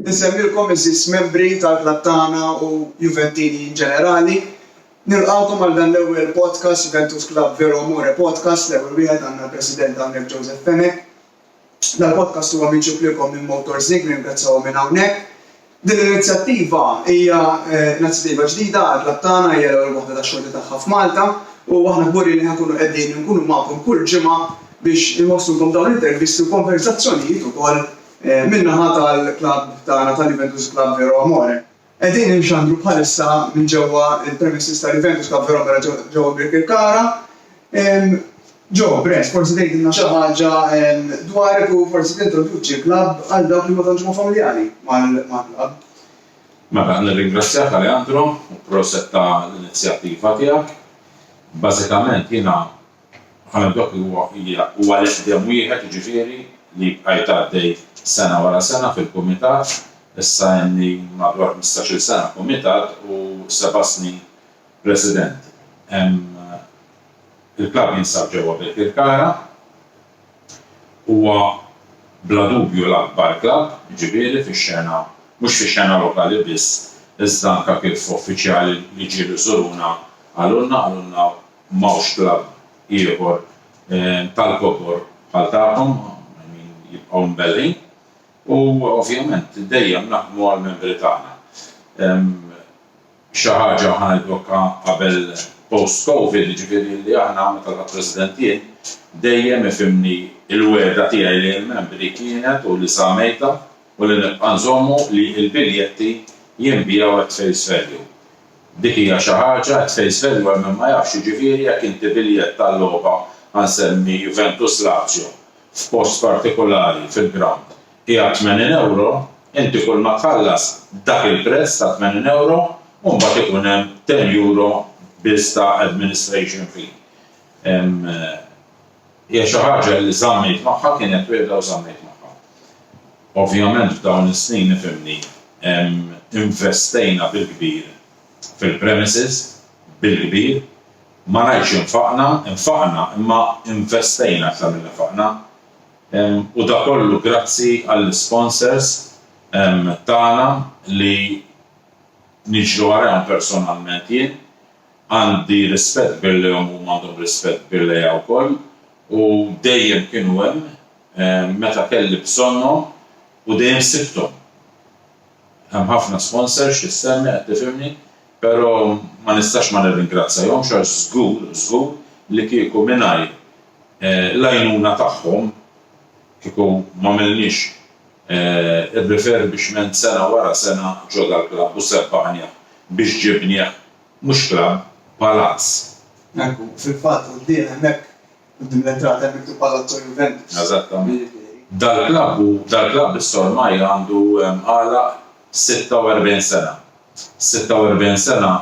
Insemmilkom iżżis membri tal-klabb tagħna u Juventini in ġenerali. Nilqgħukom għal dan l-ewwel podcast Juventus Club Vero Amore Podcast, l-ewwel wieħed għandna l-President hawnhekk Joseph Fenech. Dal podcast huwa miġjub lilkom minn Motorzig, nirringrazzjahom minn hawnhekk. Din l-inizjattiva hija inizjattiva ġdida għal klabb tagħna, hija l-ewwel waħda tax-xorti tagħha f'Malta u aħna kburin li ħa nkunu qegħdin inkunu magħkom kull ġimgħa biex inwasslulkom dawn l-intervisti u konverzazzjonijiet ukoll min-naħa tal-klabb tagħna tal-Juventus Club Vero Amore. Qegħdin inxandru bħalissa minn ġewwa l-premises ta' Juventus Club Verona ġewwa Birkirkara. Jo, Brett, forsi tgħidilna xi ħaġa dwarek u forsi tintroduċi l-klabb għal dawk li ma tantx huma familjari mal-klabb. Mela, nirringrazzjak Aleandro u proset ta' l-inizjattiva tiegħek. Bażikament jiena għal dak li huwa hija u għal eħdem wieħed jiġifieri li bqajt għaddej sena wara sena fil-kumitat, issa ilni madwar ħmistax-il sena kumitat u seba' snin president. Il-klabb jinsab ġewwa Birkirkara, huwa bla dubju l-akbar klabb jiġifieri fix-xena mhux fix-xena lokali biss iżda anke kif uffiċjali li ġieli żuruna qalulna qalulna M'hawnx klabb ieħor tal-kobor bħal tagħkom, I mean jibqgħu mbellgħin. U ovvjament dejjem naħdmu għall-membri tagħna. Xi ħaġa ħa ngħidlokha qabel post covid, jiġifieri li aħna, meta tlaqt President jien, dejjem ifhimni l-wegħda tiegħi lejn membri kienet u li żammejtha u li nibqa' nżommu li l-biljetti jinbiegħu at face value. Dik hija xi ħaġa, qed tgħid Sven dwar min ma jafx, jiġifieri jekk inti biljett tal-logħba, ħa nsemmi Juventus Lazio, f'post partikulari fil-grawnd qiegħed 80 ewro, inti kulma tħallas dak il-prezz ta' 80 ewro u mbagħad ikun hemm 10 ewro biss ta' administration fee. Hija xi ħaġa li żammejt magħha, kienet wegħda u żammejt magħha. Ovvjament f'dawn is-snin, ifhimni, investejna bil-kbir fil-premises, bil-kbir. Ma ngħidx infaqna, infaqna, imma investejna aktar milli faqna. U dak kollu grazzi għall-isponsors tagħna li niġri warajhom personalment jien Għandi rispett kbir lejhom u huma għandhom rispett kbir lejja wkoll u dejjem kienu hemm meta kelli bżonnhom u dejjem sibthom. Hemm ħafna sponsors xi ssemmi qed tifhimni, però ma nistax ma nirringrazzjahomx għax żgur, żgur li kieku mingħajr l-għajnuna tagħhom, kieku m'għamilniex ir-refurbishment sena wara sena ġo dal-klabb u sebbaħnieh biex ġibnieh Mhux klabb, palazz. Hekk hu. Fil-fatt, quddiem hemmhekk, quddiem l-entrata hemm miktub Palazzo Juventus. Eżattament. Dal-klabb hu, dal-klabb issa ormai għandu għalaq 46 sena. 46 sena,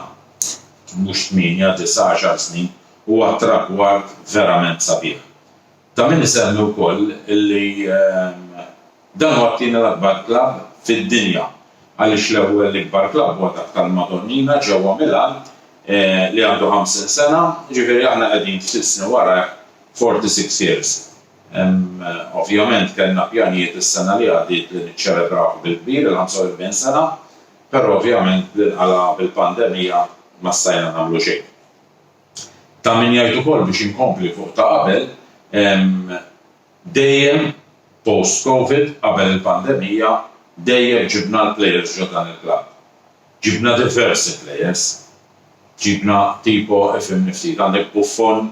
mhux tmienja, disgħa, għaxar snin, huwa tragward verament sabiħ. Ta' min isemmi wkoll li, Dan huwa t-tieni l-akbar klabb fid-dinja għaliex l-ewwel l-ikbar klabb huwa dak tal-Madonnina ġewwa Milan li għandu 50 sena, jiġifieri aħna qegħdin ftit snin warajh, 46 years. Ovvjament kellna pjanijiet is-sena li għaddiet li niċċelebrawh bil-kbir il-45 sena, però ovvjament bl-inqala' bil-pandemija ma stajna nagħmlu xejn. Ta' min jgħid ukoll biex inkompli fuq ta' qabel, Dejjem post Covid qabel il-pandemija dejjem ġibna l-players ġo dan il-klabb. Ġibna diversi players. Ġibna tipo ifhimni ftit għandek Buffon,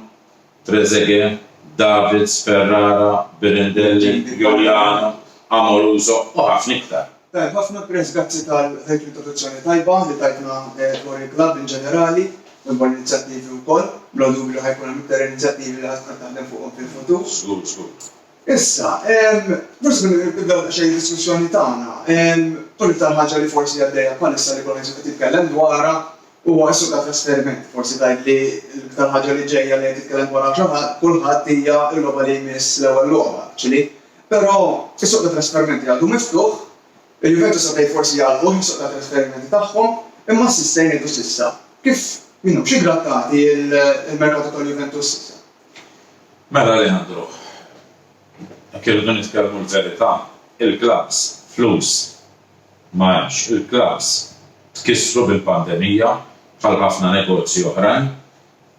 Trezeguet, Davids, Ferrara, Birindelli, Giuliano, Amoruso u ħafna iktar. Tajjeb ħafna Chris, grazzi tal dik l-introduzzjoni tajba li tajtna dwar il-klabb in ġenerali u dwar l-inizjattivi wkoll. Bla dubju li ħa jkun hemm iktar inizjattivi li ħa tkun qed taħdem fuqhom fil-futur. Żgur, żgur. Issa, forsi billi nibdew daqsxejn id-diskussjoni tagħna, tkun l-iktar ħaġa li forsi għaddejja bħalissa li kulħadd qed jitkellem dwarha huwa s-suq ta' trasferiment. Forsi tgħid li l-iktar ħaġa li ġejja li qed jitkellem dwarha kulħadd hija l-logħba li jmiss l-ewwel logħba, ċili? Però is-suq tat-trasferimenti għadu miftuħ, il-Juventus għadha jforsi jagħlquh is-suq tat-trasferimenti tagħhom, imma s'issa jgħidu s'issa. Kif minnhom xi grattati l-merkatu tal-Juventus s'issa. Mela Leandro, jekk irridu nitkellmu l-verità, il-klabbs flus ma hemmx. Il-klabbs tkissru bil-pandemija bħal ħafna negozji oħrajn.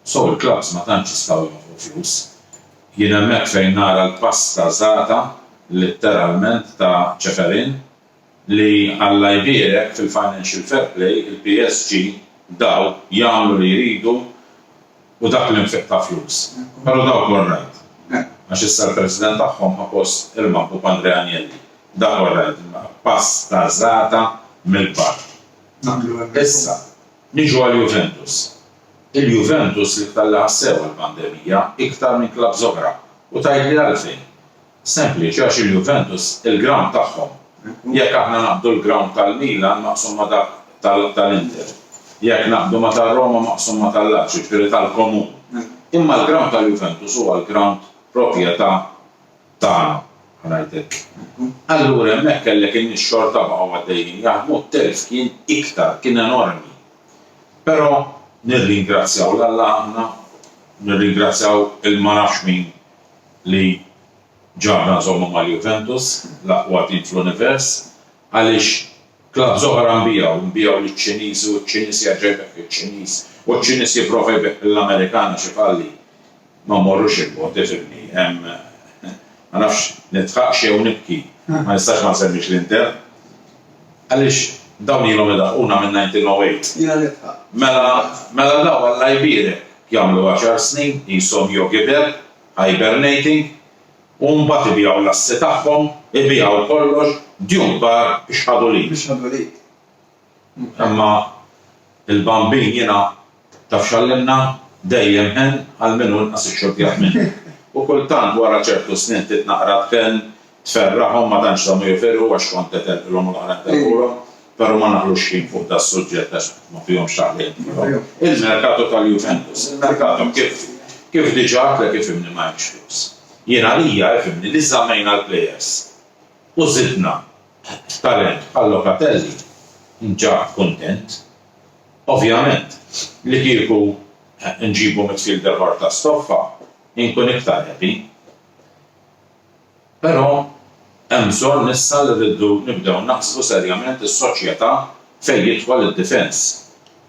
So l-clubs ma tantx jistgħu jonfqu flus. Jien hemmhekk fejn nara l-pass ta' żgħata litteralment ta' Ceferin li Alla jbierek fil-financial fair play il-PSG dawl jagħmlu li jridu u dak l-infiq ta' flus. Però dawk orrajt. Għax issa l-president tagħhom ħa post il-maħbub Andrea Agnelli. Dak orrajt. Pass ta' żgħata mill-kbar. Issa. Niġu għal Juventus. Il-Juventus li ftallaha sew għall-pandemija iktar minn klabbs oħra u tgħidli għalfejn? Sempliċi għax il-Juventus il-ground tagħhom. Jekk aħna naqbdu l-ground tal-Milan maqsum ma' dak tal-Inter. Jekk naqbdu ma' tar-Roma maqsum ma' tal-Lazio, jiġifieri tal-komun. Imma l-ground tal-Juventus huwa l-ground propjetà tagħna, ngħidlek. Allura hemmhekk kellek in-nies xorta baqgħu għaddejjin jaħdmu, t-telf kien iktar, kien enormi. Però nirringrazzjaw 'l Alla aħna, nirringrazzjaw 'il ma nafx min li ġabna nżommu mal-Juventus, l-aqwa tim fl-univers. Għaliex clubs oħra nbiegħu, nbiegħu liċ-Ċiniżi u ċ-Ċiniż jerġa' jbigħ liċ-Ċiniż u ċ-Ċiniż jipprova jbigħ lill-Amerikan għax ifalli? Ma mmorrux il bogħod, ifhimni, hemm ma nafx nidħaqx jew nibki, ma nistax ma nsemmix l-Inter. Għaliex dawn ilhom idaħquna minn 1908. Jiena nidħaq. Mela, mela dawn Alla jbierek jagħmlu għaxar snin qishom jogiber, hibernating, U mbagħad ibigħu l-assi tagħhom, ibigħu kollox, djun kbar, ixħadu l-id. Ixħadu l-id. Imma il-Bambin jiena, taf x'għallimna? Dejjem hen għal min hu inqas ixxurtjat minni. U kultant wara ċertu snin trid naqra tkun tferraħhom ma tantx żamu jifirħu għax kont qed terqilhom u l-oħrajn terqulhom. Però ma naqlux ħin fuq da s-suġġett għax ma fihomx taħlil miegħu. Il-merkato tal-Juventus, il-merkato kif kif diġà għadtlek ifhimni ma hemmx flus. Jien għalija ifhimni li żammejna l-players u żidna talent bħal Locatelli nġab kuntent. Ovvjament li kieku nġibu midfielder ħor ta' stoffa inkun iktar happy. Però hemm bżonn issa li rridu nibdew naħsbu serjament is-soċjetà fejn jidħol id-difens.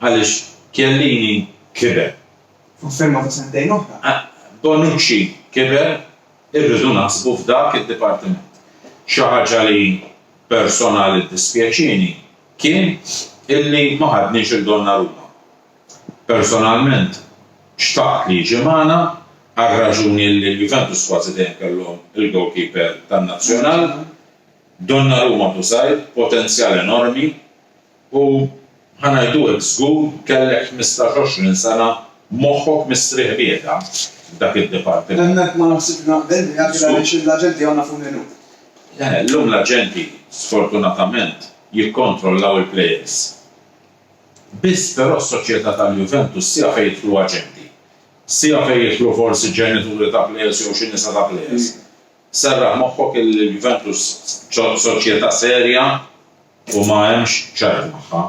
Għaliex Chiellini kiber. Fuq firma ta' sentejn oħra. Bonucci kiber, irridu naħsbu f'dak id-dipartiment. Xi ħaġa li personali ddispjaċieni kien illi ma ħadniex 'il Donnarumma. Personalment xtaqt li jiġi magħna għar-raġuni li l-Juventus kważi dejjem kellhom il-goalkeeper tan-Nazzjonal. Donnarumma Busai, potenzjal enormi u ħa ngħidu hekk żgur kellek ħmistax għoxrin sena moħħok mistrieħ bieda f'dak id-dipartiment. Hemmhekk ma naħsibx naqbel miegħek għaliex illum l-aġenti għandna fuq minnu. Le, illum l-aġenti sfortunatament jikkontrollaw il-players. Biss però s-soċjetà tal-Juventus sija fejn jidħlu aġenti. Sija fejn jidħlu forsi ġenituri ta' plejers jew xi nisa ta' plejers. Serraħ moħħok illi l-Juventus soċjetà serja u ma hemmx ċajt magħha.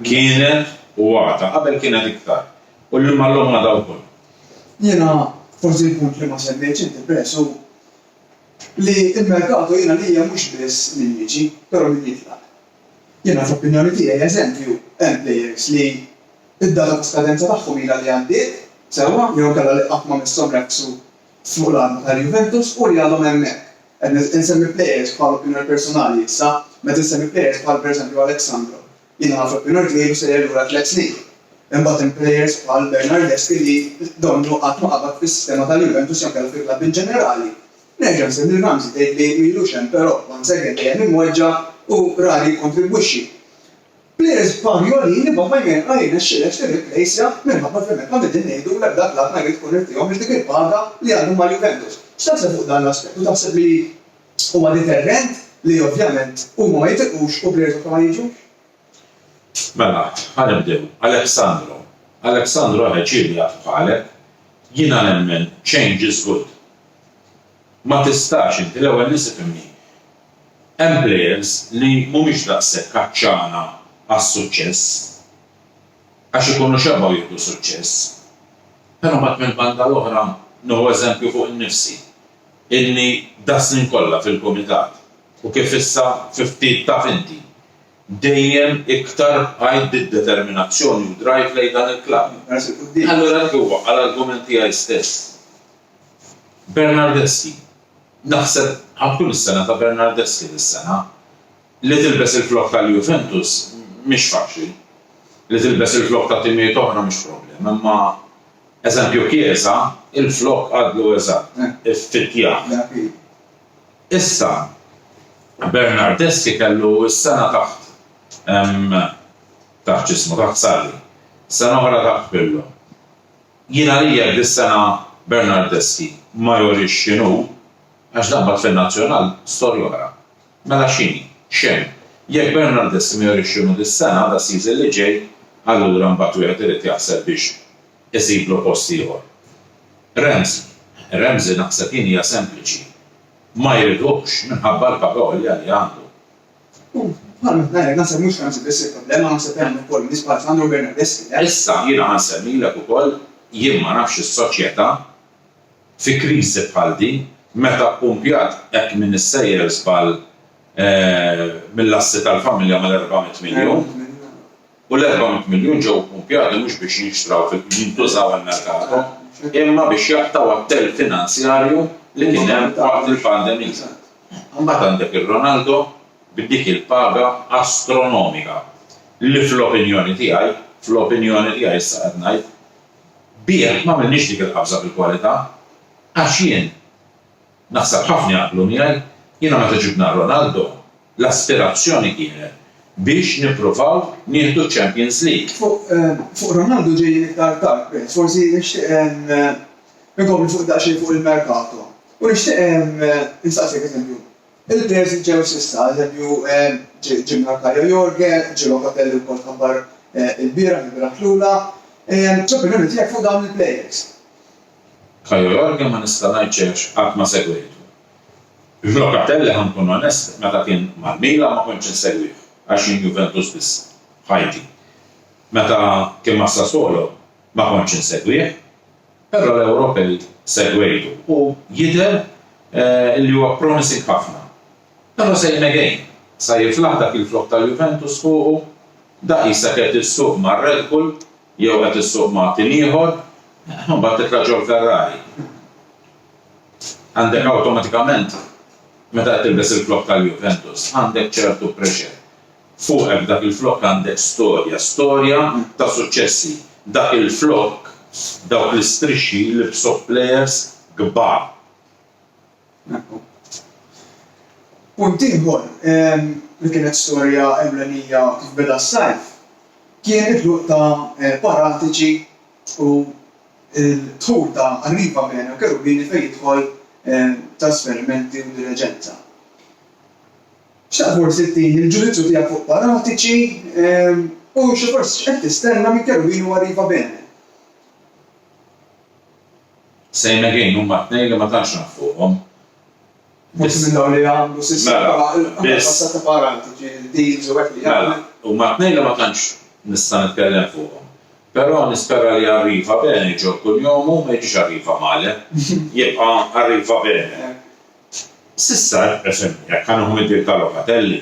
Kienet u għadha. Qabel kienet iktar. U li imma llum għadha wkoll. Jiena forsi l-punt li ma semmejtx inti peress hu li l-merkato jiena għalija mhux biss min jiġi, però min jitlaq. Jiena fl-opinjoni tiegħi eżempju hemm players li d-data ta' skadenza tagħhom ilha li għaddiet sewwa jew inkella li qatt ma misshom rekksu fuq l-għalba tal-Juventus u li għadhom hemmhekk. Qed insemmi players bħal opinjoni personali issa, meta nsemmi players bħal per eżempju Alex Sandro, jiena fl-opinjoni tiegħi ilu sejjer lura tliet snin. Imbagħad hemm players bħal Bernardeschi li donnu qatt ma qabad fis-sistema tal-Juventus jew inkella fil-klabb inġenerali. Nerġa' nsemmi Ramsey tgħid li m'ilux hemm però once again dejjem imweġġa' u rari jikkontribwixxi. Players bħal Jolin imma Vajmer ma jirnexxilekx tirriplejsja minħabba li hemmhekk ma qegħdin ngħidu l-ebda klabb ma jrid ikun irid iħobbx dik il-paga li għadhom ma' Juventus. X'taħseb fuq dan l-aspett u taħseb li huwa deterrent li ovvjament huma ma jitiqux u players oħra ma jiġux? Mela, ħa nibdew. Alexandro, Alexandro ħeġġieli jagħtu bħalek. Jiena nemmen change is good. Ma tistax inti l-ewwel nies ifhimni. Hemm plejers li mhumiex daqshekk għatxana għas-suċċess għax ikunu xebgħu jieħdu suċċess. Però mbagħad mill-banda l-oħra nieħu eżempju fuq innifsi illi das-snin kollha fil-kumitat u kif issa fi ftit taf inti, dejjem iktar bqajt bid-determinazzjoni u drive lejn dan il-klabb. Allura dak huwa għal argument tiegħi stess. Bernardeschi, Naħseb bħal kull sena ta' Bernardeschi dis-sena, li tilbes il-flokk tal-Juventus mhix faċli. Li tilbes il-flokk ta' timijiet oħra mhix problema imma, eżempju Chiesa, il-flokk għadlu eżatt iffittjat. Issa, Bernardeschi kellu s-sena taħt, taħt x'ismu, taħt Sarri. Sena oħra taħt Pirlo. Jien għalija dis-sena Bernardeschi ma jurix x'inhu, għax dan bagħad fin-Nazzjonal, storja oħra. Mela x'inhi? X'hemm. Jekk Bernardeschi ma jurix x'inhu dis-sena, das-season li ġej, allura mbagħad wieħed irid jaħseb biex isiblu post ieħor. Ramsey? Ramsey naħseb jien hija sempliċi. Ma jridux minħabba l-paga għolja li għandu. U bħal ma tnajrek naħseb mhux Franzi biss il-problema naħseb li għandna wkoll nies bħal Sandro Bernardeschi le. Issa jiena ħa nsemmilek ukoll jien ma nafx is-soċjetà fi kriżi bħal din meta ppumpjat hekk minn is-sejjer żball mill-assi tal-familja mal-erbgħa mitt miljun. u l-erba' mitt miljun ġew ppumpjati mhux biex jinxtraw fil-jintużaw għall-merkato, imma biex jaqtgħu għat-telf finanzjarju li kien hemm waqt il-pandemija. Imbagħad għandek ir-Ronaldo bi dik il-paga astronomika li fl-opinjoni tiegħi, fl-opinjoni tiegħi issa qed ngħid, bih m'għamilniex dik il-qabża fil-kwalità, għax jien, Naħseb ħafna jaqblu miegħi, jiena meta ġibt ngħa Ronaldo, l-aspirazzjoni kienet biex nippruvaw nieħdu ċ-Champions League. Fuq Ronaldo ġejjin iktar tard, Prince, forsi nixtieq inkompli fuq daqsxejn fuq il-merkato u nixtieq insaqsik, eżempju, il-players li ġew s'issa, eżempju, ġie Mnarkaja Jorge, ġie Locatelli wkoll tħabbar ilbieraħ, ilbieraħ tlula, x'opinjoni tiegħek fuq dawn il-players? Caio Jorge ma nista' ngħid xejn għax qatt ma segwejtu. Locatelli ħa nkun onest meta kien mal-Milan ma kontx insegwih għax jien Juventus biss f'ħajti. Meta kien mas-Sassuolo ma kontx insegwih. Però l-Ewropej segwejtu u jidher li huwa promising ħafna. Però same again, sa jiflaħ dak il-flokk tal-Juventus fuqu, daqi sakemm issuq mar-Red Bull, Jew qed issuq magħtin ieħor, imbagħad titla' ġol-Ferrari. Għandek awtomatikament, meta qed tilbes il-flokk tal-Juventus, għandek ċertu pressure fuqek f'dak il-flokk għandek storja, storja ta' suċċessi. Dak il-flokk, dawk l-istrixxi jlibbsuh plejers kbar. Punt ieħor li kienet storja ewlenija kif beda s-sajf kien it-tluq ta' Paratiċi u d-dħul ta' Arriva Bene u Cherubini fejn jidħol trasferimenti u diliġenza. Xtaqt forsi tini l-ġudizzju tiegħek fuq Paratiċi u xi forsi x'qed tistenna minn Cherubini u Arriva Bene. Same again, huma t-tnejn li ma tantx naf fuqhom. Forsi minn dawn li jagħmlu sistema bħall-kassa ta' paranti, ġieli deals u hekk li jagħmlu. Mela, huma t-tnejn li ma tantx nista' nitkellem fuqhom. Però nispera li Arriva Bene jġorr kull jom u ma jiġix Arriva Male. Jibqa' Arriva Bene. S'issa, fimni, jekk ħa nieħu mill-bieb ta' Locatelli,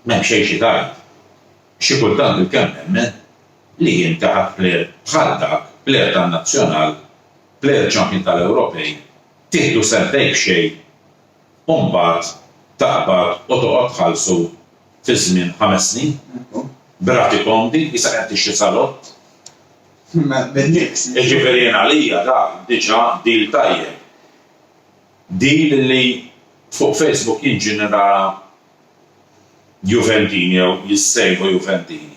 m'hemm xejn xi tgħid. Xi kultant bilkemm nemmen. li jien taħt plejer bħal dak, plejer tan-Nazzjonal, plejer champion tal-Ewropej, tieħdu sentejn b'xejn u mbagħad taqbad u toqgħod tħallsu fi żmien ħames snin b'rati komdi qisha qed tixtri salott. Jiġifieri jien għalija dak diġà deal tajjeb. Deal li fuq Facebook jien ġieni nara Juventini jew jissejħu Juventini.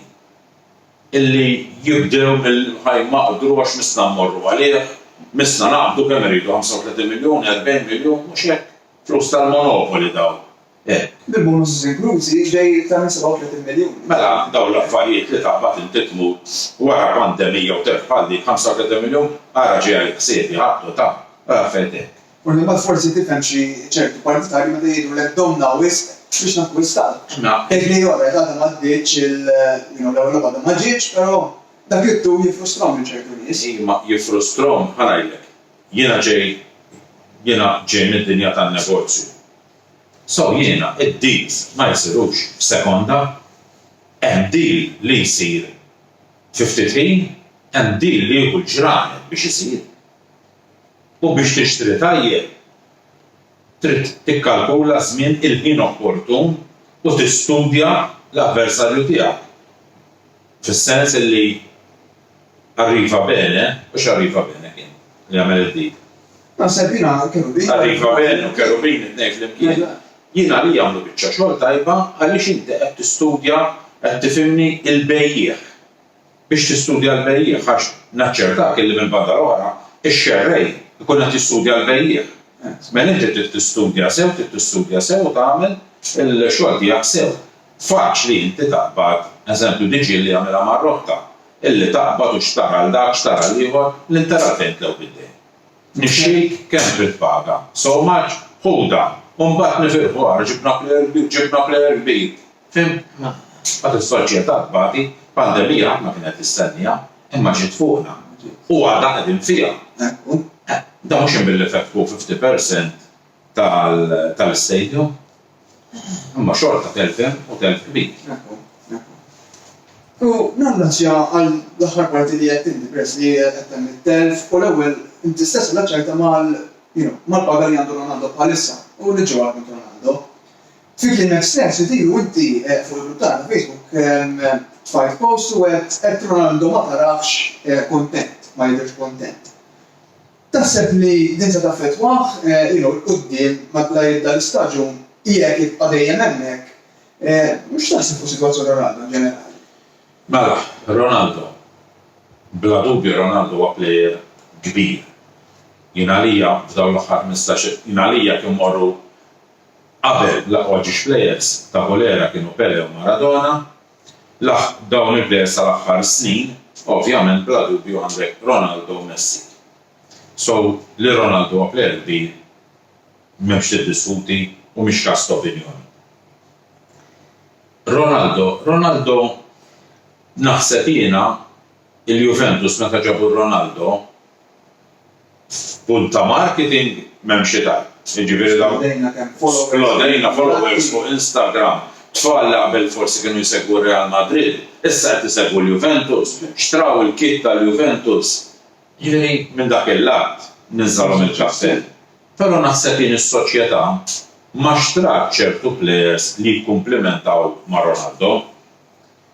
illi jibdew mill-imħajn ma qdrux missna mmorru għalih, missna naqbdu kemm iridu 35 miljun, 40 miljun, mhux hekk? Flus tal-monopoli dawn, eh. Bil-bonuses inklużi ġej iktar minn 37 miljun. Mela dawn l-affarijiet li taqbad inti tmut wara pandemija u telf bħal dik 35 miljun, ara ġie għalik ħsiebi ħadtu ta, u affarijiet hekk. Kull imbagħad forsi tifhem xi ċerti partitarji meta jgħidulek domna wisq biex nakkwistaw. Tgħid li alright għadha m'għaddietx il you know l-ewwel logħba għadha ma ġietx però dak it-tul jiffrustrom lil ċertu nies. Iva jiffrustrom, bħal ngħidlek, jiena ġej jiena ġej mid-dinja tan-negozju. So jiena id-deals ma jsirux f'sekonda. Hemm deal li jsir fi ftit ħin, hemm deal li jieħu l-ġranet biex isir. U biex tixtri tajjeb, trid tikkalkula ż-żmien il-ħin opportun u tistudja l-avversarju tiegħek, fis-sens illi arriva bene, hux arriva bene kien li għamel id-dik? Naħseb jiena l-kerubin. Arriva bene u kerubin it-tnejn flimkien, jien għalija għamlu biċċa xogħol tajba għaliex inti qed tistudja, qed tifhimni, il-bejjiegħ. biex tistudja l-bejjiegħ għax naċċertak illi mill-banda l-oħra x-xerrej ikun qed jistudja l-bejjiegħ. Żmien inti trid tistudja sew, trid tistudja sew u tagħmel il-xogħol tiegħek sew. Faċli inti taqbad, eżempju Diġieli jagħmilha mar-rotta, illi taqbad u x'tara 'l dak, x'tara 'l ieħor, l-interrall fejn tlew bid-dejn. Nixxik, kemm trid paga? So much? Ħudha! U mbagħad nifirħu, ara ġibna plejer kbir, ġibna plejer kbir! Fimna. Għad is-soċjetà tbati, pandemija ħadd ma kien qed jistenniha, imma ġiet fuqna. U għadha qegħdin fiha. Dan mhux hemm billi fettħu fifty percent tal-istadium. Imma xorta telf hemm u telf kbir. U nirringrazzja għall-aħħar parti li għedt inti peress li qed temm it-telf u l-ewwel inti stess rilaċċajtha mal-paga li għandu Ronaldo bħalissa u li ġewwa għal Ronaldo. Fi kliem estens, il-viru inti fuq il-grupp tagħna Facebook tfajt post u għedt għedt Ronaldo ma tarahx kuntent, ma jidhirx kuntent. Taħseb li din se taffettwah you know 'l quddiem la jibda l-istaġun i jekk jibqa' dejjem hemmhekk? X'taħseb fuq sitwazzjoni Ronaldo in ġenerali? Mela, Ronaldo. Bla dubju Ronaldo huwa plejer kbir. Jien għalija f'dawn l-aħħar ħmistax-il, jien għalija kien morru Qabel l-aqwa ġiex plejers ta' Bolera kienu Pele u Maradona, laħq dawn il-plejers tal-aħħar snin, ovvjament bla dubju għandek Ronaldo u Messi. So, li Ronaldo huwa plejer kbir m'hemmx tiddiskuti u mhix każ ta' opinjoni. Ronaldo, Ronaldo naħseb jiena Il-Juventus meta ġabu Ronaldo f'punt ta' marketing m'hemm xi tajb. Jiġifieri dawn. Splodejna kemm followers. Splodejna followers fuq Instagram. Tfal li qabel forsi kienu jsegwu r-Real Madrid, issa qed isegwu l-Juventus, xtraw il-kit tal-Juventus. Jiġifieri minn dak il-lat ninżalhom il-kappell. Però naħseb jien is-soċjetà ma xtrat ċertu plejers li jikkumplimentaw ma' Ronaldo.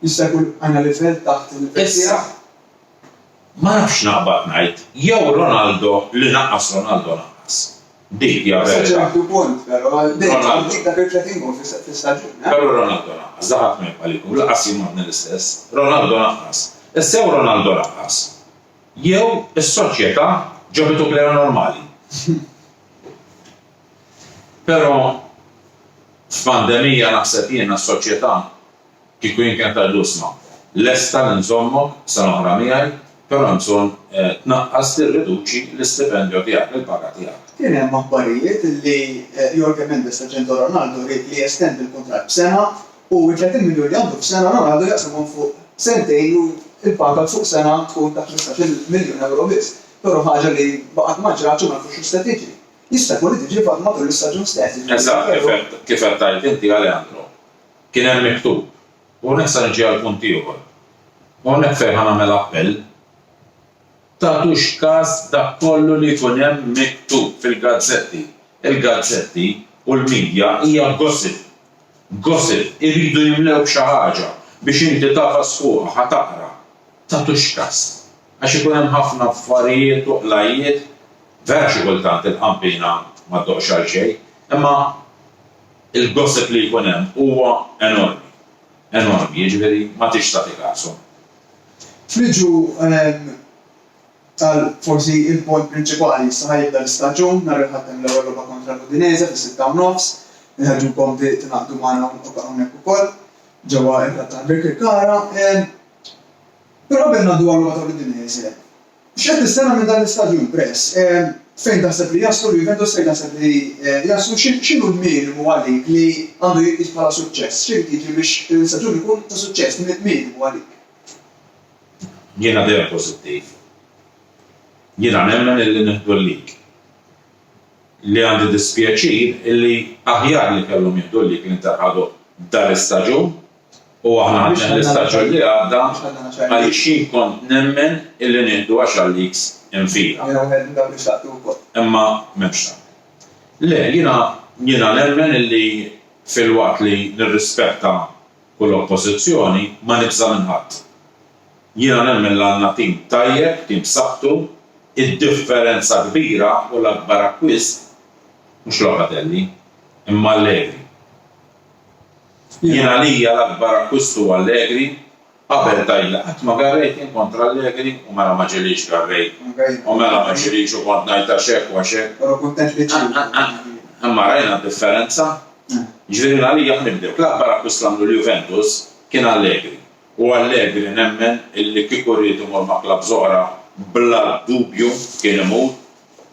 Jista' jkun għandna livell taħt il-livell tiegħek? Issa, ma nafx naqbad ngħid, jew Ronaldo li naqqas Ronaldo naqqas. Dik hija l-verità. Sa ċertu punt, però għal dik dak il-30 gowl fis-staġun, eh? Però Ronaldo naqqas, da ħadd ma jibqa' li jkun, lanqas jien m'għadni l-istess. Ronaldo naqqas. Issa jew Ronaldo naqqas, jew is-soċjetà ġabitu plejer normali. Però f'pandemija naħseb jiena s-soċjetà Kieku jien kien tgħidlu isma', lesta li nżommok sena oħra miegħi, però hemm bżonn tnaqqas, tirriduċi l-istipendjo tiegħek, il-paga tiegħek. Kien hemm aħbarijiet li Jorge Mendes l-aġent ta' Ronaldo ried li jestendi l-kuntratt b'sena u t-30 miljun li għandu f'sena Ronaldo jaqsamhom fuq sentejn u l-paga fuq sena tkun ta' ħmistax-il miljun ewro biss, però ħaġa li baqgħet ma ġratx u ma nafux x'se tiġi. Jista' jkun li tiġi matul is-staġun stess, jiġifieri f'Febrarju. Eżatt, kif qed tgħid inti Alejandro, Kien hemm miktub, u hawnhekk sa niġi għall-punt ieħor, u hawnhekk fejn ħa nagħmel appell, tagħtux kas dak kollu li jkun hemm miktub fil-gazzetti. Il-gazzetti u l-midja hija gossip. Gossip. Iridu jimlewk xi ħaġa biex inti tagħfas fuqha, ħa taqra. Tagħtux kas. Għax ikun hemm ħafna affarijiet u qlajjiet, vera xi kultant il-qampina ma ddoqx għal xejn, imma Il-gossip li jkun hemm huwa enormi. Enormi, jiġifieri ma tridx tagħti kasu. Friġu qal forsi il-punt prinċipali, issa ħa jibda l-istaġun, nhar il-Ħadd hemm l-ewwel logħba kontra l-Udinese fis-sitta u nofs. Inħeġġukom tingħaqdu magħna hawnhekk ukoll ġewwa r-Rattana Birkirkara. Però qabel ngħaddu għal-logħba tal-Udinese, X'qed tistenna minn dan l-istaġun, Press? Fejn taħseb li jaslu l-Juventus, fejn taħseb li jaslu? X'inhu l-minimu għalik li għandu jitqies bħala suċċess? X'irid jiġri biex din l-istaġun ikun ta' suċċess? Min il-minimu għalik? Jiena dejjem pożittiv. Jiena nemmen illi nieħdu l-lig. Li għandi dispjaċir illi aħjar li kellhom jieħdu l-lig li nterħadu dal-istaġun. U aħna għadna dan l-istaġun li għadda għaliex jien kont nemmen illi nieħdu għaxar leagues infila. Imma m'hemmx dan. Le, jiena jiena nemmen illi filwaqt li nirrispetta kull oppożizzjoni ma nibża' minn ħadd. Jiena nemmen li għandna tim tajjeb, tim b'saħħtu, id-differenza kbira u l-akbar akkwist mhux Locatelli imma Allegri. Jien għalija l-akbar akkwist hu Allegri, qabel tgħidli qatt ma garrejt jien kontra Allegri u mela ma ġielix garrejt u mela ma ġielix u kont ngħid għax hekk u għax hekk. Imma rajna d-differenza. Jiġifieri jien għalija ħa nibdlek, l-akbar akkwist li għamlu l-Juventus kien Allegri u Allegri nemmen illi kieku ried imur ma' klabbs oħra bla dubju kien imur,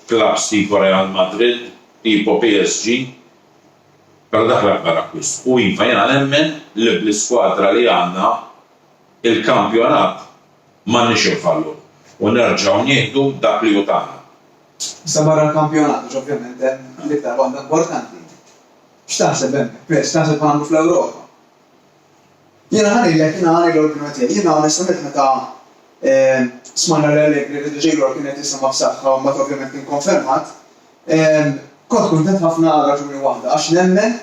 klabbs tipo Real Madrid, tipo PSG, Però dak l-akbar akkwist. U iva, jiena nemmen li bl-iskwadra li għandna, il-kampjonat m'għandniex infalluh u nerġgħu nieħdu dak li hu tagħna. Issa barra l-kampjonat, għax ovvjament hemm l-iktar waħda importanti, x'taħseb hemmhekk, Chris? X'taħseb għandu fl-Ewropa? Jiena ħa ngħidlek, jiena ħa ngħid l-opinjoni tiegħi. Jiena onestament meta smajna li Allegri riedu Jailor kien qed jisimgħa b'saħħa u mbagħad ovvjament kien konfermat, kont kuntent ħafna għal raġuni waħda, għax nemmen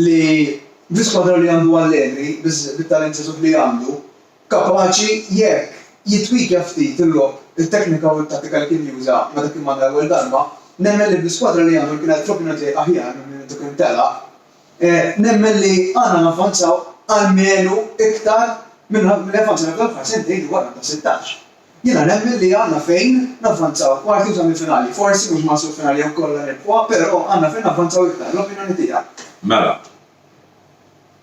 li bi skwadra li għandu Allegri, bit-talent żagħżugħ li għandu, kapaċi jekk jittwikja ftit il-logħob, it-teknika u t-tattika li kien juża meta kien manna l-ewwel darba, nemmen li bl-iskwadra li għandu li kienet fl-opinjoni tiegħi aħjar minn min intu kien telaq, Nemmen li għandna navvanzaw almenu iktar minn li avvanzajna f'dawn l-aħħar sentejn dwar Under 16. Jiena nemmen li għandna fejn navvanzaw kwarti u semifinali. Forsi mhux maħsub finali jew kollha nirbħuha, però għandna fejn navvanzaw iktar. L-opinjoni tiegħi. Mela,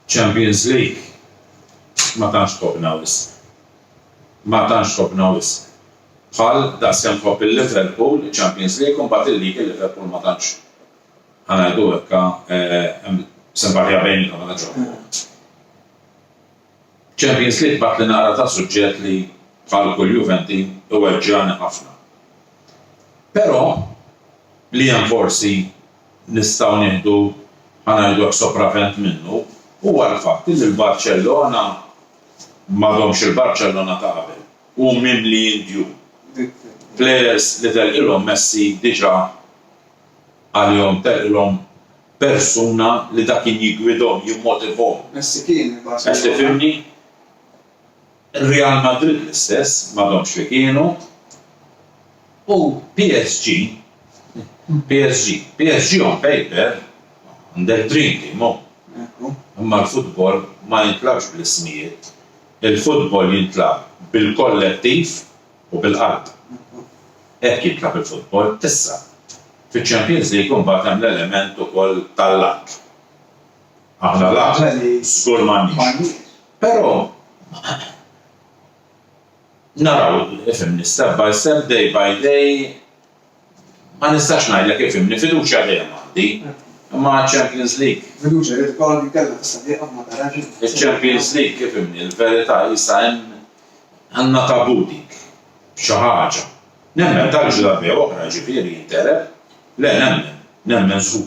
Champions League ma tantx ħobbna wisq. Ma tantx ħobbna wisq. Bħal daqskemm ħobb il-Liverpool, iċ-Champions League u mbagħad il-League il-Liverpool ma tantx Ħa ngħidu hekk, hemm simpartija bejniethom mela ġo l-bogħod. Champions League b'għadd li naqra ta' suġġett li, bħal kull Juventi, iweġġgħani ħafna. Però, li hemm forsi nistgħu nieħdu, ħa ngħidu hekk, sopravvent minnu, huwa l-fatt li l-Barċellona m'għadhomx il-Barċellona ta' qabel. Hu mimli indjun. Plejers li telqilhom Messi diġà. għalihom perlhom persuna li da kien jiggwidhom, jimmotivhom. Messi kien minn Barcelona. Qed tifhimni? Real Madrid l-istess, m'għadhomx fi kienu. U PSG, PSG, PSG on paper għandek dream team hu. Ekku. Imma l-futbol ma jintlagħbx bl-ismijiet. Il-futbol jintlagħab bil-kollettiv u bil-qalb. Hekk jitlab il-futbol issa. Fiċ-Champions League imbagħad hemm l-element ukoll tal-luck. Aħna luck żgur m'għandniex. Però naraw, fhimni, step by step, day by day, Ma nistax ngħidlek kif himni, fiduċja dejjem għandi. Imma għaċ-Champions League? Fiduċja li l-Borough li kellha tista' tieqaf ma tarax. Iċ-Champions League kif himni, il-verità qisha hemm. Għandna taboo dik. Xi ħaġa. Nemmen tal-ġrabbi oħra, jiġifieri jinteleb. Le, nemmen. Nemmen żgur.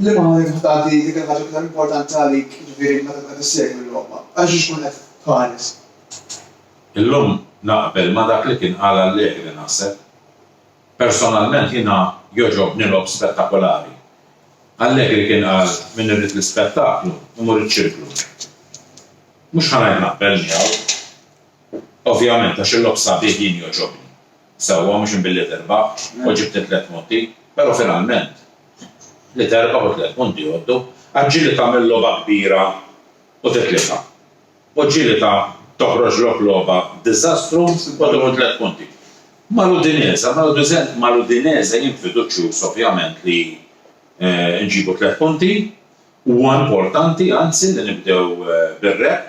Liema ħin tkun tagħti dik il-ħaġa l-iktar importanti għalik, jiġifieri meta tkun qed issegwi l-logħba? Għal xiex tkun qed tħares? Illum naqbel ma' dak li kien qal Allegri naħseb. Personalment jiena jogħġobni logħob spettakolari. Allegri kien qal min irid l-ispettaklu imur iċ-ċirklu. Mhux ħa ngħid naqbel miegħu, ovvjament għax il-logħob sabiħ jien jogħġobni. Sewwa, mhux imbilli tirbaħ u ġibt it-tliet punti, però finalment li terbaħ u t-tliet punti jgħoddu. Għad ġieli tagħmel logħba kbira u titlifha. U ġieli ta' toħroġlok logħba diżastru u tieħu t-tliet punti. Mal-Udinese, mal-Udinese jien fiduċjuż ovvjament li nġibu t-tliet punti. Huwa importanti anzi li nibdew bir-rebħ.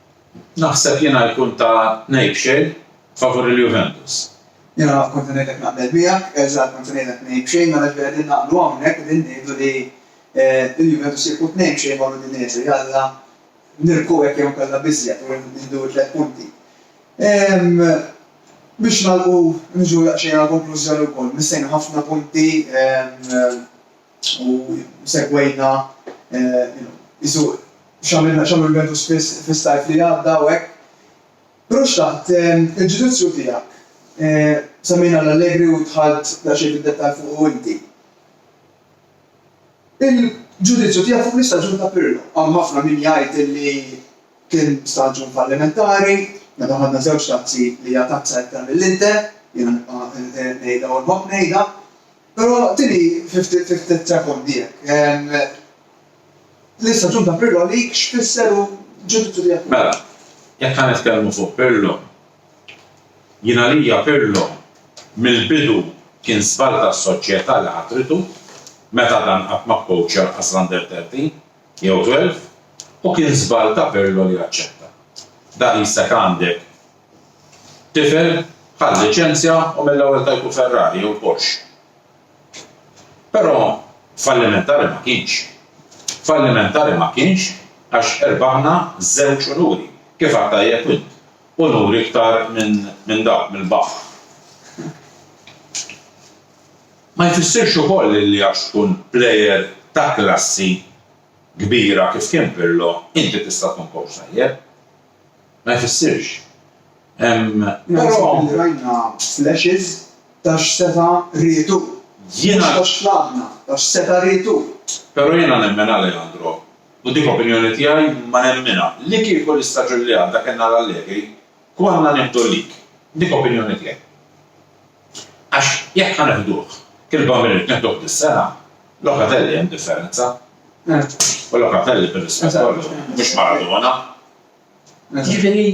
Naħseb jiena jkun ta' ngħid xejn favur il-Juventus. Jiena naf kont ngħidlek naqbel miegħek, erġa' kont se ngħidlek tnejn b'xejn mela ġifieri qegħdin naqblu hawnhekk qegħdin ngħidu li l-Juventus jieħu tnejn b'xejn ma' l-Udinese jalla nirbħu hekk jew inkella b'iżjed u nieħdu t-tliet punti. Biex nagħlqu niġu daqsxejn għal konklużjoni wkoll missejna ħafna punti. U segwejna, you know, qisu x'għamilna, x'għamlu l-Juventus spiss fis-sajf li għadda u hekk. Però xtaqt il-ġudizzju tiegħek. Semmejna l-Allegri u dħalt daqsxejn fid-dettall fuqu inti. Il-ġudizzju tiegħek fuq l-istaġun ta' Pirlo. Hawn ħafna min jgħid illi kien staġun fallimentari, meta ħadna żewġ tazzi li hija tazza iktar mill-Inter, jiena nibqa' ngħidha u nħobb ngħidha. Però tini fi ftit sekondi jekk. L-istaġun ta' Pirlo għalik x'fisser u l-ġudizzju tiegħek fuqu? Mela, jekk ħa nitkellmu fuq Pirlo, jien għalija Pirlo mill-bidu kien żball tas-soċjetà li ħatritu meta dan qatt ma kkowċja lanqas l-Under 13 jew 12 u kien żball ta' Pirlo li aċċetta. Daqisek għandek Tifel ħa l-liċenzja u mill-ewwel tajtu Ferrari jew Porsche. Però fallimentari ma kienx. Fallimentari ma kienx għax irbaħna żewġ unuri, kif għedt tajjeb int, unuri iktar minn dawk, mill-baħħ. Ma jfissirx ukoll li għax tkun plejer ta' klassi kbira kif kien Pirlo, inti tista' tkun kowċ tajjeb. ma jfissirx. Però rajna flashes ta' x'seta' ried hu, mhux ta' x'tlabna, ta' x'seta' ried hu. Però jiena nemmen, Alejandro, u dik opinjoni tiegħi imma nemminha, li kieku l-istaġun li għadda kellna l-Allegri, konna nieħdu l-league. Dik opinjoni tiegħi. Għax jekk ħa neħduh, kirba minut neħduh dis-sena, Locatelli hemm differenza. U Locatelli bir-rispett kollu, mhux Maradona. Jiġifieri.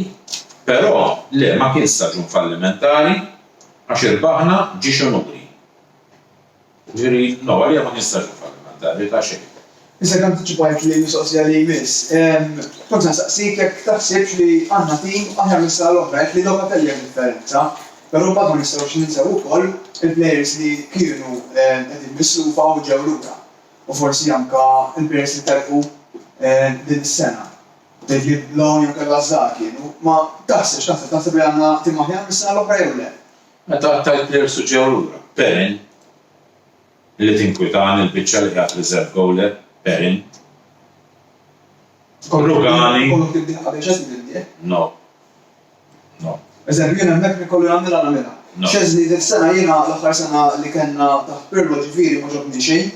Però le ma kien staġun fallimentari għax irbaħna ġiex imuri. Ġifieri, no, għalija ma nistax nfallimenta, in verità xejn. Isek antiċipajt li l-mistoqsija li jmiss. Kont se nsaqsik jekk taħsibx li għandna tim aħjar mis-sena l-oħra, jekk li Locatelli għamel differenza, però mbagħad ma nistgħux ninsew ukoll il-plejers li kienu qegħdin mislufa u ġew lura, u forsi anke l-plejers li telqu din is-sena, David Blom jew Kelvas Zah kienu, ma taħsibx, taħseb, taħseb li għandna tim aħjar mis-sena l-oħra jew le? Meta qattajt players u ġew lura, Perin, li tinkwitani l-biċċa li qiegħed reserve goaler, Perin, Rugani, no, no. Eżempju, jien hemmhekk li kollu nagħmilha nagħmilha. Szczesny dik sena jiena l-aħħar sena li kellna taħt Pirlo ġifieri ma ġobni xejn,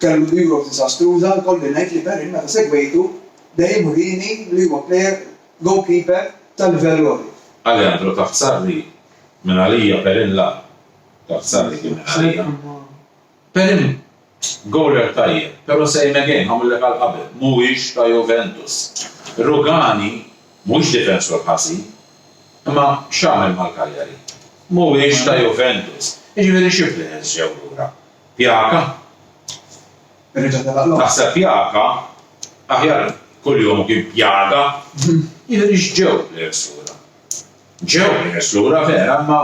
kellu l-Euros diżastruża, jkolli ngħid li Perin meta segwejtu dejjem urieni li huwa player goalkeeper ta' livell għoli. Aleandro taħt Sarri Minn għalija Perin la. Tazzarri kien minn għalija. Perin gowler tajjeb, pero same again, għamillek għal qabel, mhuwiex ta' Juventus. Rugani mhuwiex difensur ħażin, imma x'għamel mal-Cagliari? Mhuwiex ta' Juventus. Jiġifieri xi players ġew lura? Pjaka? Taħseb Pjaka? Aħjar kuljum kien Pjaga. Jiġifieri x'ġew players lura? Ġew ħieles lura vera imma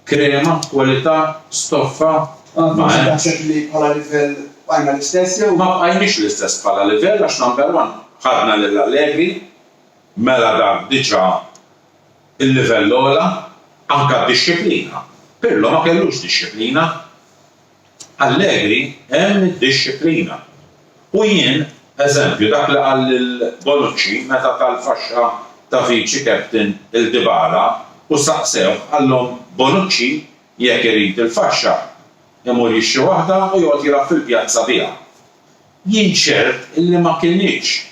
krema, kwalità, stoffa, ma hemmx. Inti taħseb li bħala livell bqajna l-istess jew? Ma bqajniex l-istess bħala livell għax number one ħadna lil Allegri, mela dak diġà il-livell ogħla, anke d-dixxiplina, Pirlo ma kellux dixxiplina. Allegri hemm id-dixxiplina. U jien, eżempju, dak li qal lil Bonucci meta ta l-faxxa ta' viċi captain 'l Dybala u staqsewh qallhom Bonucci jekk irid il-faxxa imur jixtri waħda u joqgħod jilgħab fil-pjazza biha. Jien ċert illi ma kinitx.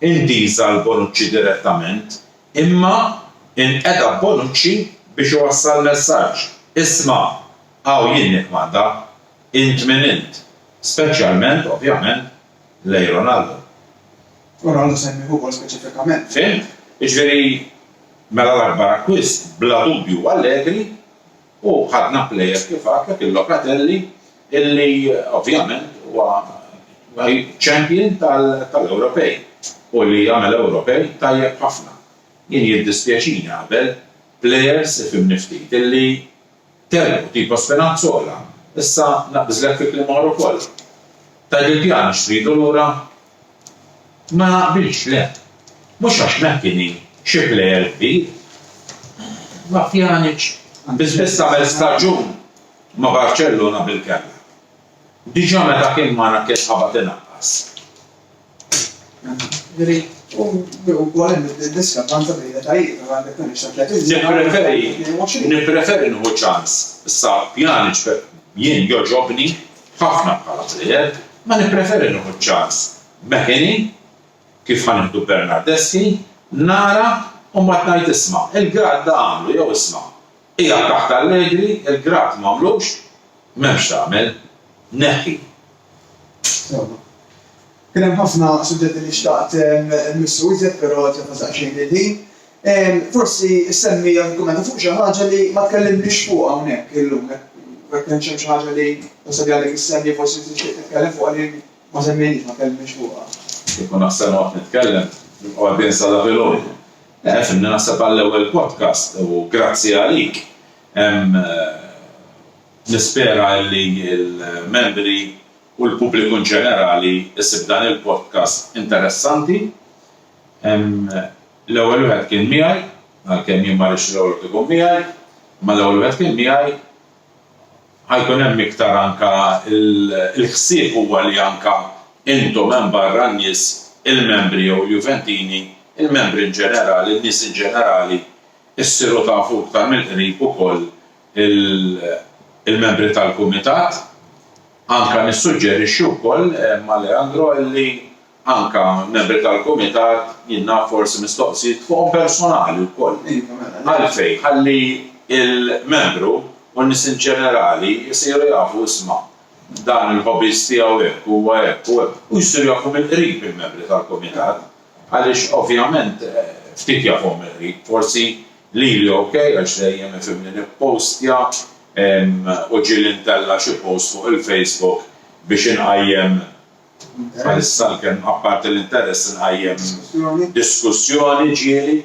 intiża l Bonucci direttament, imma inqeda b'Bonucci biex iwassal messaġġ, isma', hawn jien nikkmanda, int min int, speċjalment, ovvjament, lejn Ronaldo. Ronaldo semmieh ukoll speċifikament. Fhimt? Jiġifieri, mela l-akbar akkwist, bla dubju, Allegri, U ħadna plejers kif għad, Pepin Locatelli, illi ovvjament huwa champion tal-Ewropej u li għamel Ewropej tajjeb ħafna. Jien jiddispjaċini qabel plejers, ifhimni ftit, illi telqu, tipo Spinazzola. Issa naqbiżlek fi kliem oħra wkoll. Tgħidli pjana x'tridu lura Ma naqbilx, le. Mhux għax Mckinney xi plejer kbir. Ma Pjanic biss biss għamel staġun ma' Barċellona bilkemma. Diġà meta kien magħna kien qabad inaqqas. Nippreferi nieħu ċans sa Pjanic jien jogħġobni. F'ħafna bħala pliegħed ma nippreferi nieħu ċ-ċans meħini kif ħa nieħdu Bernardeschi, nara u mbagħad ngħid isma' il-Grad da għamlu jew isma' qiegħed taħt Allegri il-Grad m'għamlux, m'hemm x'tagħmel. Neħħi. Kien hemm ħafna suġġetti li xtaqt immissu iżjed però qed jafas daqsxejn il-ħin. Forsi issemmi jew nikkummenta fuq xi ħaġa li ma tkellimniex fuqha hawnhekk illum, jekk ma kienx hemm xi ħaġa li tasal li għadek issemmi forsi tixtieq titkellem fuqha li ma semmejniex, ma tkellimniex fuqha. Kieku naħseb noqgħod nitkellem nibqa' għaddejn sa la filgħodu. Le, fimni naħseb għall-ewwel podcast u grazzi għalik. Nispera illi l-membri. u l-pubbliku in ġenerali jsib dan il-podcast interessanti. L-ewwel wieħed kien miegħi, għalkemm jien ma rridx l-ewwel wieħed ikun miegħi, imma l-ewwel wieħed kien miegħi. Ħa jkun hemm iktar anke il-ħsieb huwa li anke intom hemm barra n-nies, il-membri jew il-Juventini, il-membri in ġenerali, n-nies in ġenerali, issiru tafu iktar mill-qrib ukoll il-membri tal-kumitat. Anke nissuġġerixxi wkoll ma' Leandro li anke membri tal-Kumitat jien naf forsi mistoqsijiet fuqhom personali wkoll. Għalfejn? Ħalli l-membru u n-nies in ġenerali jsiru jafu isma' dan il-hobbies tiegħu hekk, huwa hekk u hekk u jsiru jafu mill-qrib il-membri tal-Kumitat għaliex ovvjament ftit jafuhom mill-qrib forsi Lili ok għax dejjem ifhimni nippostja u ġieli ntella' xi post fuq il-Facebook biex inqajjem bħalissa għalkemm apparti l-interess inqajjem diskussjoni ġieli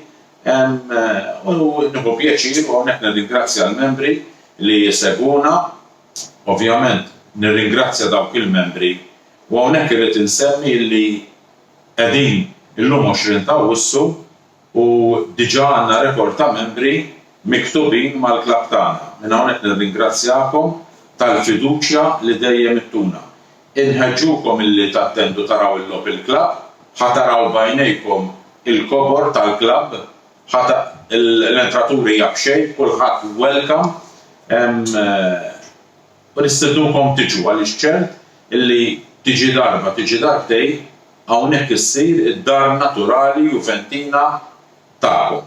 u nieħu pjaċir u hawnhekk nirringrazzja l-membri li jsegwuna ovvjament nirringrazzja dawk il-membri u hawnhekk irrid insemmi li qegħdin illum 20 t'Awwissu U diġà għandna rekord ta' membri miktubin mal-klabb tagħna. Minn hawnhekk nirringrazzjakom tal-fiduċja li dejjem ittuna. Inħeġġukom illi tattendu taraw il-logħob il-klabb. Ħa taraw b'għajnejkom il-kobor tal-klabb. Ħa ta l-entratur hija b'xejn, kulħadd welcome. U nistednukom tiġu għaliex ċert illi tiġi darba tiġi darbtejn hawnhekk issir id-dar naturali Juventina tagħkom.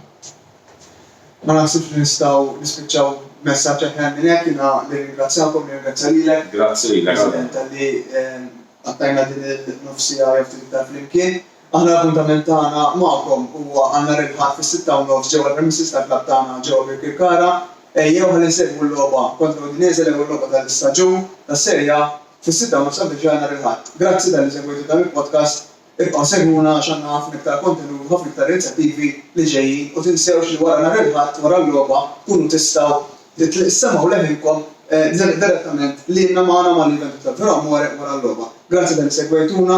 Ma naħsibx li nistgħu nispiċċaw messaġġ aħjar minn hekk. Jiena nirringrazzjakom, nirringrazzja lilek, President, talli qattajna din il-nofs siegħa jew ftit iktar flimkien. Aħna l-appuntament tagħna magħkom huwa għal nhar il-Ħadd fis-sitta u nofs ġewwa l-premises tal-klabb tagħna ġewwa Birkirkara. Ejjew ħalli nsegwu l-logħba kontra Udinese l-ewwel logħba tal-istaġun tas-Serie A fis-sitta u nofs għal Brescia nhar il-Ħadd. Grazzi talli segwejtu dan il-podcast. Ibqgħu segwuna għax għandna ħafna iktar kontenut u ħafna iktar inizjattivi li ġejjin u tinsewx li wara nhar il-Ħadd wara l-logħba tkunu tistgħu issemgħu leħinkom direttament lilna magħna ma' l-Juventud tal Faro Amore wara l-logħba. Grazzi talli segwejtuna.